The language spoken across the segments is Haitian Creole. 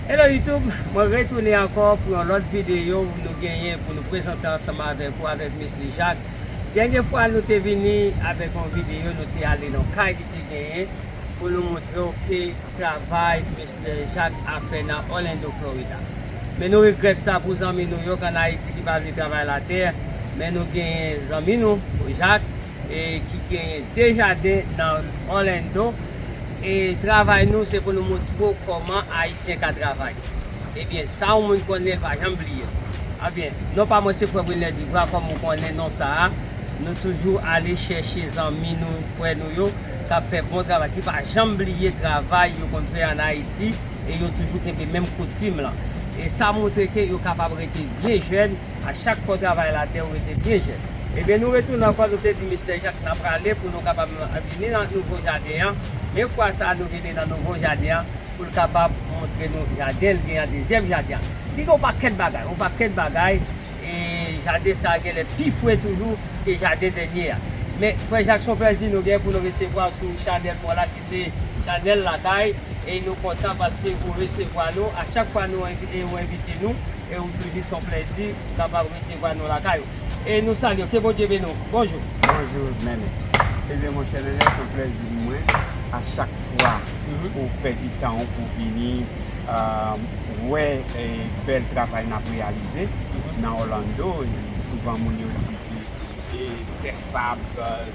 Hello YouTube, mwen retounen ankò pou yon lòt videyo nou genyen pou nou prezante ansanm avèk ou avèk Mesye Jacques. Dènye fwa nou te vini avèk yon videyo nou te ale nan kay li te genyen pou nou montre w ke travay Mesye Jacques ap fè nan Orlando Florida. Men nou regrèt sa pou zanmi nou yo k an Ayiti ki pa vle travay latè, men nou genyen zanmi nou Jacques, e ki genyen 2 jaden nan Orlando e travay nou se pou nou moutre w kòman ayisyen ka travay ebyen sa yon moun konnen l pa janm bliye l ebyen non pa mwen se frè Wilner Duvra kòm ou konnen non sa a nou toujou ale chèche zanmi nou frè nou yo k ap fè bon travay ki pa janm bliye travay yo konn fè an ayiti e yo toujou kenbe menm koutim lan e sa moutre ke yo kapab rete byen jèn. A chak fwa w travay latè ou rete byen jèn. Ebyen nou retounen ankò nou te di Mistè Jak na prale pou nou kapab vini nan nouvo jaden an men fwa sa nou vini nan nouvo jaden an pou l kapab montre nou jaden l gen an dezyèm jaden an li gen yon pakèt bagay yon pakèt bagay e jaden sa a genlè pi fre toujou ke jaden dènye a men frè Jak son plèzi nou gen pou nou resevwa w sou chanèl mwen la ki se chanèl lakay e nou kontan paske ou resevwa nou a chak fwa nou envite nou. E ou toujou son plezi kapab resevwa nou lakay ou. E nou salye w. Ke Bondye beni w. Bonjou. Bonjou Nènè. Ebyen monchè Nènè son plezi pou mwen a chak fwa ou pèdi tan ou pou vini wè bèl travay nap reyalize nan Orlando. Souvan moun yo di ke tè sab,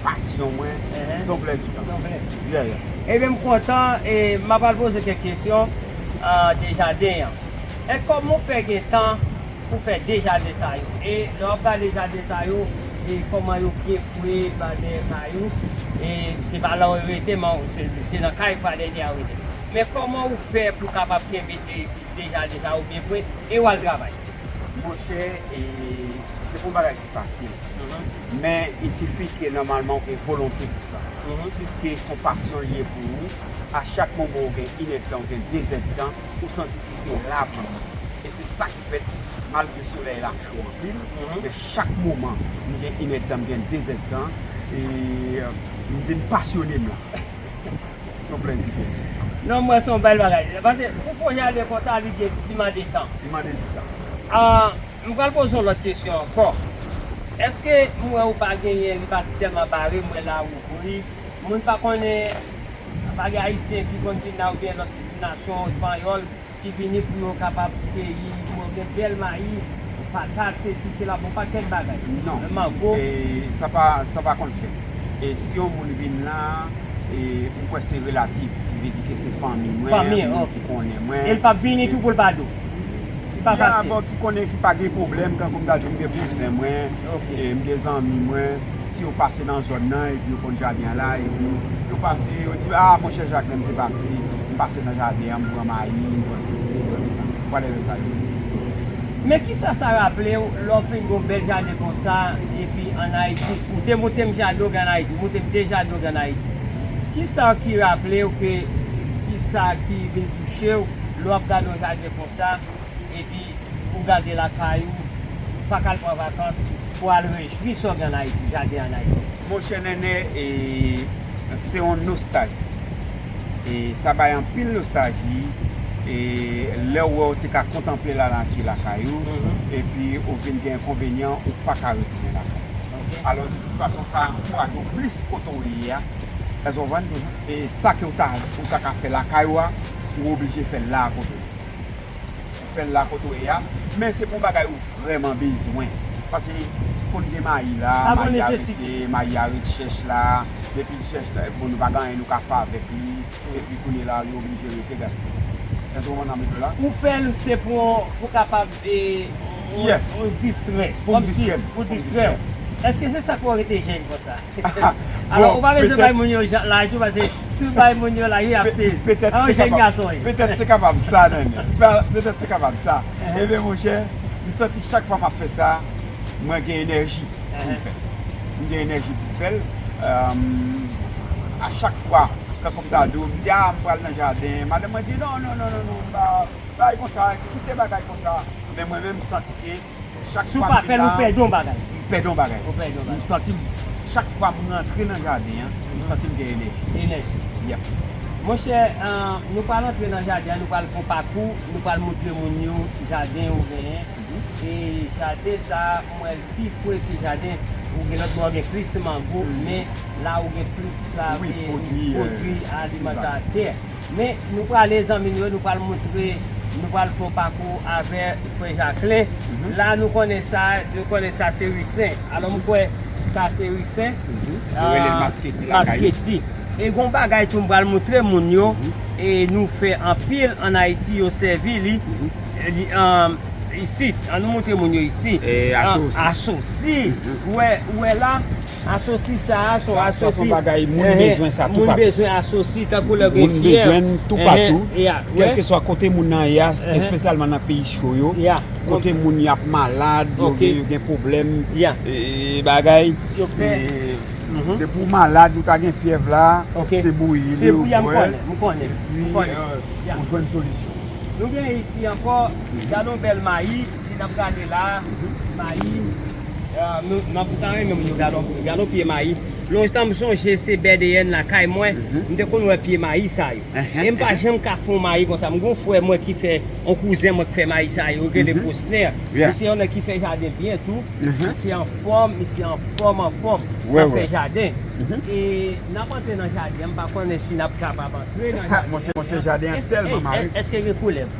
Passion mwen son vlè di lan. Son vlè di. Yeah yeah. Ebyen m kontan e m apral poze kèk kesyon de jaden an. E kòman w fè gen tan pou fè 2 jaden sa yo? E lè w ap gade jaden sa yo e kòman yo byen fwe pa dèyè kay ou e se pa la w rete men se nan kay pa dèyè a w rete. Men kòman ou fè pou w kapab kenbe 2 jaden sa yo byen fwe e w al travay? Monchè e se pa yon bagay. fasil. Men il sifi ke nòmalman ou gen volonte pou sa. Piske son pasyon li ye pou ou, a chak moman ou gen inèdtan, ou gen dezèdtan, ou santi ke se la pou ou. E se sa ki fèt malgre solèy la cho anpil, men chak moman m gen inèdtan, m gen dezèdtan, e m vin pasyone m la. Se yon plèzi pou mwen. Non m wè se yon bèl bagay. Pase pou pwojè a ale konsa li mande tan. Li mande di tan. M pral poze w lòt kesyon ankò. Eske m wè ou pa genyen li pa si tèlman bare m wè la ouvri. Moun pa konnen pa gen ayisyen ki konn vin la oubyen lòt nasyon panyòl ki vini pou yo kapab keyi pou yo gen bèl mayi, patat, sesi, sela bon pakèt bagay. Non. Mango. Sa pa sa pa konn fèt. E si yon moun vin la e ou kwè se relatif ki vle di ke se fanmi mwen, moun ki konnen mwen. Fanmi, ok. E l pap vini tou pou l pa di w? Gen avè w ki konnen ki pa gen pwoblèm tankou m ta di w m gen kouzen mwen, m gen zanmi mwen, si yo pase nan zòn nan epi yo konn jaden an la epi yo pase yo di a monchè jak lè m te pase m pase nan jaden an m pran mayi m pran sesi m pran sela whatever sa yo di. Men kisa sa raple w lè w fin gen yon bèl jaden konsa epi an Ayiti ou te montre m jaden w gen an Ayiti ou montre m de jaden w gen an Ayiti kisa ki raple w ke kisa ki vin touche w Lè w ap gade yon jaden konsa, epi ou gade lakay ou, ou pa ka al pran vakans pou al rejwi sa w gen an Ayiti, jaden an Ayiti. Monchè Nènè, se yon nostalji. Sa bay anpil nostalji lè w wè w te ka kontanple lanati lakay ou, epi ou vin gen enkonvenyan ou pa ka retounen lakay ou. Alò, de tout fason, sa ankouraje w plis kote w ye a, èske w konprann? E sa ke ou ta ka fè lakay ou a. ou oblije fèl la kote ou ye. Ou fèl la kote ou ye a, men se pou bagay ou vrèman bezwen. Pase konn gen mayi la, mayi a rete, mayi a ret chèch la, depi l chèch la, bon nou pa gen anyen nou ka fè avèk li, epi kounye la li oblije rete gaspiye. Èske w konprann sa m di w la? Ou fèl se pou kapab Pou distrè Pou m distrè m Pou distrè w Èske se sa k fè w rete jèn konsa? Alò ou pa bezwen bay moun yo laj tou paske si w bay moun yo laj yo ap sezi An w jèn gason wi Petèt se kapab sa Nènè Petèt se kapab sa Enben monchè m santi chak fwa m ap fè sa mwen gen enèji pou m fè l M gen enèji pou m fè l A chak fwa tankou m ta di w m di a m pral nan jaden madanm mwen di non non non non non m pa Bay konsa, kite bagay konsa. Men mwen menm m santi ke chak fwa m vin la, m pèdi yon bagay. M pèdi yon bagay. M santi m, chak fwa m rantre nan jaden an, m santi m gen enèji. Enèji. Yep. Monchè, nou pral antre nan jaden an, nou pral fè yon pakou, nou pral montre moun yo jaden ou genyen. E jaden sa a, m wè l pi fre ke jaden ou gen lòt bò, gen plis mango, men la ou gen plis pwodui alimantè. Men nou prale zanmi nou yo nou pral moutre nou pral fon pakou avè frè jaklen la nou konnen sa nou konnen sa se ri sen alò m kwè sa se ri sen yo rele l masketi lakay yo masketi e gon bagay tou m pral moutre moun yo e nou fè anpil an ayiti yo sèvi li li an isit an nou moutre moun yo isi asosi asosi ou wè la. Asosi sa a son asosi. Sa son bagay moun bezwen sa toupatou. Moun bezwen asosi tankou lè gen fyèv. Moun bezwen l toupatou. Kèlkeswa kote moun nan ye a, espesyalman nan peyi cho yo. Kote moun y ap malad, yo gen pwoblèm bagay. Depi ou malad, ou ta gen fyèv la, se bouyi li ou bwè l. M konnen. Epi ou jwenn solisyon. Nou gen isi ankò, gadon bèl mayi. Jan nap gade la mayi mwen ta renmen moun yo gade yon pye mayi lontan m sonje se bdn lakay mwen m te konn wè pye mayi sa yo e m pa janm ka fon mayi konsa m gen yon frè mwen ki fè yon kouzen mwen ki fè mayi sa yo rele Prosner li se yon nèg ki fè jaden byen tou misye anfòm misye anfòm anfòm nan fè jaden e nap antre nan jaden an m pa konnen si nap kapab antre nan jaden an eske gen koulèv.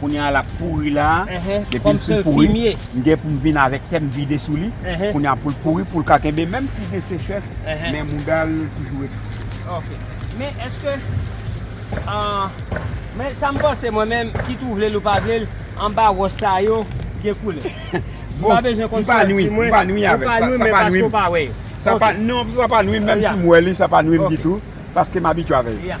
Kounye a lap pouri la, depi l fin pouri, m gen pou m vin avèk tè m vide sou li, kounye a pou l pouri pou l ka kenbe menm si gen sechrès men mouda l toujou rete fre. Ok, men eske men sa m panse mwen menm kit ou vle l ou pa vle l anba wòch sa yo gen koulè. M pa bezwen konn sa yo di mwen. M pa nwi avèk sa, sa pa nwi m. Sa pa nwi m, menm si m wè li sa pa nwi m ditou paske m abitye avè yo.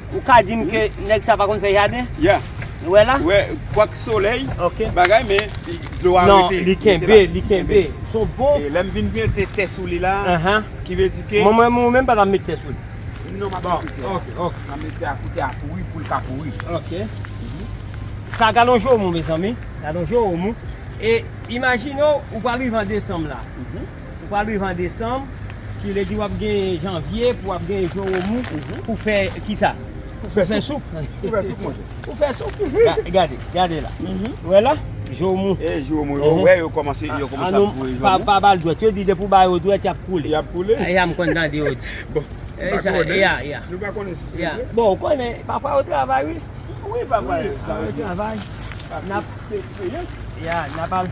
Ou ka dim ke nèg sa pa konn fè jaden? Yeah. Nou wè la? Wè, kwak solèy, bagay men dlo a rete. Non, li kenbe, li kenbe. Son bon. E lèm vin mete tè sou li la, ki vle di ke. Mwen mwen menm pa ta met tè sou li. Non map met tè. Ok, ok. Map met tè a pou tè a pouri, poul ka pouri. Ok. Sa galon joumou mezanmi, galon joumou. E imajine ou, ou pral rive an desanm la. Ou pral viv an desanm, ki vle di wap genyen janvye pou wap genyen jwen ou mou pou fè kisa? Pou fè soup. Pou fè soup monchè. Pou fè soup. Gade, gade la. Ou wè la? Jwen ou mou. E jwen ou mou. Ou wè yo kòmanse, yo kòmanse ap voye jwen ou mou. Pa bal dwèt. Yo di depi ou ba yo dwèt yap koule. Yap koule. E ya m konn tande yo di. Bon. E sa yo di. Ya, ya. Nou pa konnen si se vre. Bon, ou konnen, pafwa yo travay wi. Wi pafwa yo travay. Nap. Se eksperyans. Ya, nap al.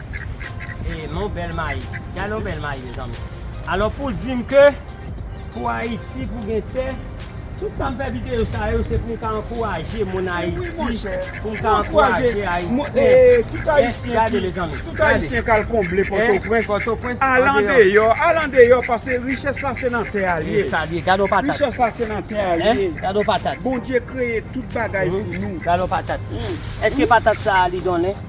Eeh mon bèl mayi. Gade yon bèl mayi mezanmi. Alò pou dim ke pou Ayiti pou gen tè, tout sa m fè videyo sa yo se pou m ka ankouraje moun Ayiti, pou m ka ankouraje Ayisyen. Gade mezanmi. Tout Ayisyen k al konble Pòtoprens, al andeyò, al andeyò pase richès la se nan tè a l ye. Gade yon patat. Richès la se nan tè a l ye. Gade yon patat. Bondye kreye tout bagay pou nou. Gade yon patat. Eske patat sa a li donnen?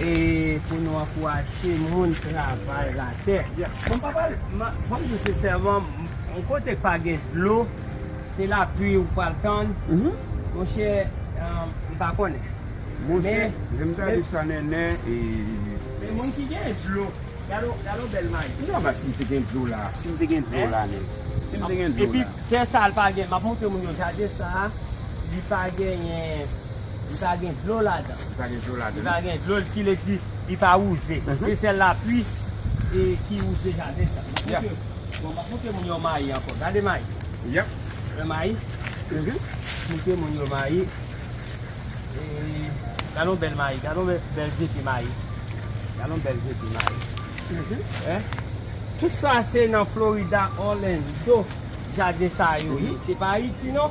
E pou nou ankouraje moun travay la tè. Bon papa banm diw sensèman yon kote k pa gen dlo se lapli ou pral tann monchè m pa konnen monchè lèm gade sa nènè men moun ki gen dlo gade yon bèl mayi non bat sim te gen dlo la sim te gen dlo la nèt sim te gen dlo la epi tè sa l pa gen map montre moun yo jaden sa li pa genyen. Li pa gen dlo ladan. Li pa gen dlo ladan. Li pa gen dlo, ki vle di li pa wouze. Se sèl lapli ki wouze jaden sa. Yap. Bon, map montre moun yo mayi ankò. Gade mayi. Yap. Wè mayi? Map montre moun yo mayi. Gade yon bèl mayi. Gade yon bèl je pye mayi. Gade yon bèl je pye mayi. Wè? Tout sa se nan Florida, Orlando, jaden sa yo ye. Se pa Ayiti non.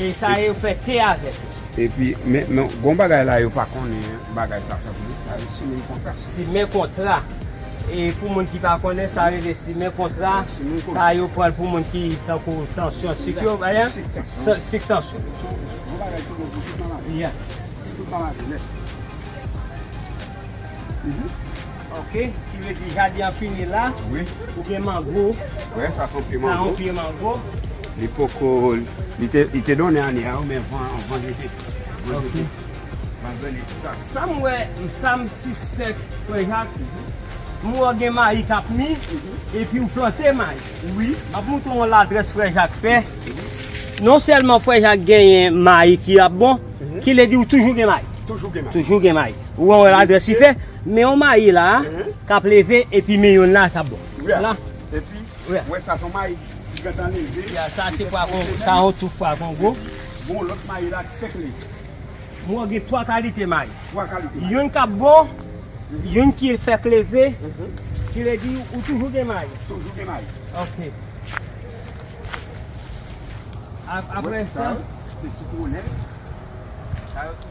E sa yo fè te avèk yo. Epi, men, men, gon bagay la yo pa konnen bagay sa fèt non, sa yo simen kontra. Simen kontra. E pou moun ki pa konnen, sa rele simen kontra, sa yo pran l pou moun ki tankou tansyon sik yo, ba yan? Sik tansyon. Sik tansyon. Sou, gon bagay ki bon pou tout maladi. Ya. Pou tout maladi nèt. Mh. Ok ki vle di jaden an fini la wi ou gen mango wi sa son pye mango sa yon pye mango li poko li te donnen ane a wi men van yo te van yo te van yo te tout ak sa m wè sa m sispèk frè jak m wè w gen mayi k ap mi epi ou plante mayi wi m ap montre w yon ladrès frè jak fè non sèlman frè jak genyen mayi ki ap bon ki vle di ou toujou gen mayi toujou gen mayi ou wè yon ladrès li fè Men yon mayi la kap leve epi men yon la kap bon. La. Epi ou wè sa son mayi ki gentan leve. Ya sa se pwa kongo. Sa yon touf pwa kongo. Gon lòt mayi la ki fèk leve. Mwen wè gen 3 kalite mayi. 3 kalite mayi. Youn kap bon, youn ki fèk leve. Ki vle di ou toujou gen mayi. Toujou gen mayi. Ok. Aprè sa. Sa yo se sitwonèt. Sa yo.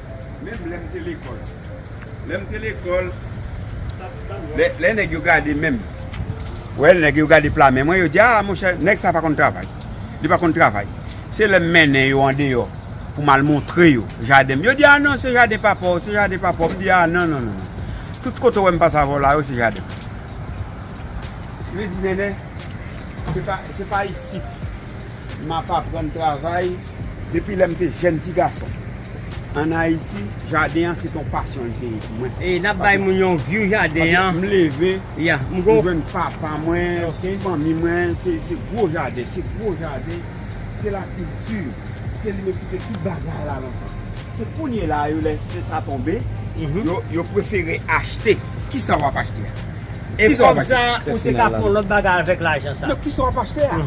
Menm lè m te lekòl. Lè m te lekòl, lè nèg yo gade men m, wè nèg yo gade pla men mwen, yo di, a monchè, nèg sa a pa konn travay. Li pa konn travay. Se lè m mennen yo andeyò pou m al montre yo jaden m, yo di, a non, se jaden papa w, se jaden papa w. M di, a non, non, non, non. Tout kote w wè m pase avè w la yo, se jaden m. Yo di, Nènè, se pa isit m ap aprann travay. Depi lè m te jèn ti gason an Ayiti, jaden an se te yon pasyon li te ye pou mwen. E nap bay moun yon view jaden an. Paske m leve, m jwenn papa mwen, fanmi mwen, se gwo jaden, se gwo jaden, se la kilti, se li menm ki te tout bagay la lontan. Se kounye la yo lè se sa tonbe, yo prefere achte. Kisa wap achte a? E kòb sa ou te ka fon lòt bagay avèk lajan sa? Non, kisa wap achte a?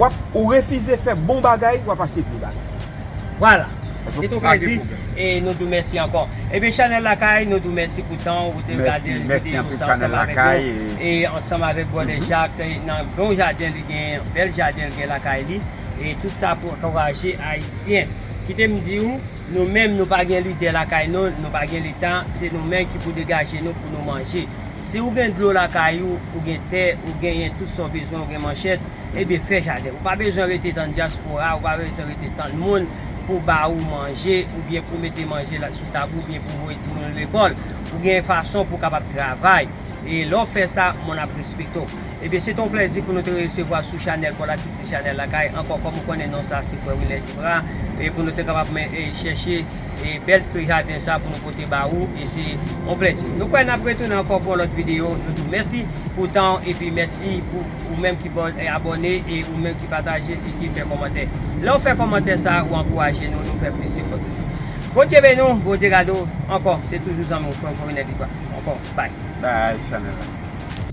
Wap ou refize fè bon bagay wap achte vye bagay. Vwala. Se tou plezi e nou dou mèsi ankò. Ebyen Chanel Lakay nou dou mèsi pou tan ou te gade videyo sa ansanm avèk nou e ansanm avèk Brother Jacques nan bon jaden li genyen, bèl jaden li genyen lakay li e tout sa pou ankouraje Ayisyen. Kite m di ou, nou menm nou pa gen lidè lakay nou, nou pa gen leta, se nou menm ki pou degaje nou pou nou manje. Si ou gen dlo lakay ou, ou gen tè, ou genyen tout sa w bezwen, ou gen manchèt, ebyen fè jaden. Ou pa bezwen rete tann dyaspora, ou pa bezwen rete tann moun pou ba ou manje, oubyen pou mete manje sou tab ou, oubyen pou voye timoun ou lekòl. Ou genyen fason pou w kapab travay. E lè w fè sa, moun ap respekte w. Ebyen se te yon plèzi pou nou te resevwa sou chanèl Paul Actice Chanèl Lakay. Ankò kòm ou konnen non sa se Frè Wilner Duprat. E pou nou te kapab chèche e bèl fri jaden sa pou nou pote ba ou e se yon plèzi. Nou kwè nap retounen ankò pou yon lòt videyo. Nou di w mèsi pou tan w epi mèsi pou ou menm ki abòne e ou menm ki pataje e ki fè kòmantè. Lè w fè kòmantè sa ou ankouraje nou, nou fè plis efò toujou. Bondye beni w, Bondye gade w. Ankò se toujou zanmi w, frè w Forinel Dutoit. Ankò, bye. Bye Chanel la.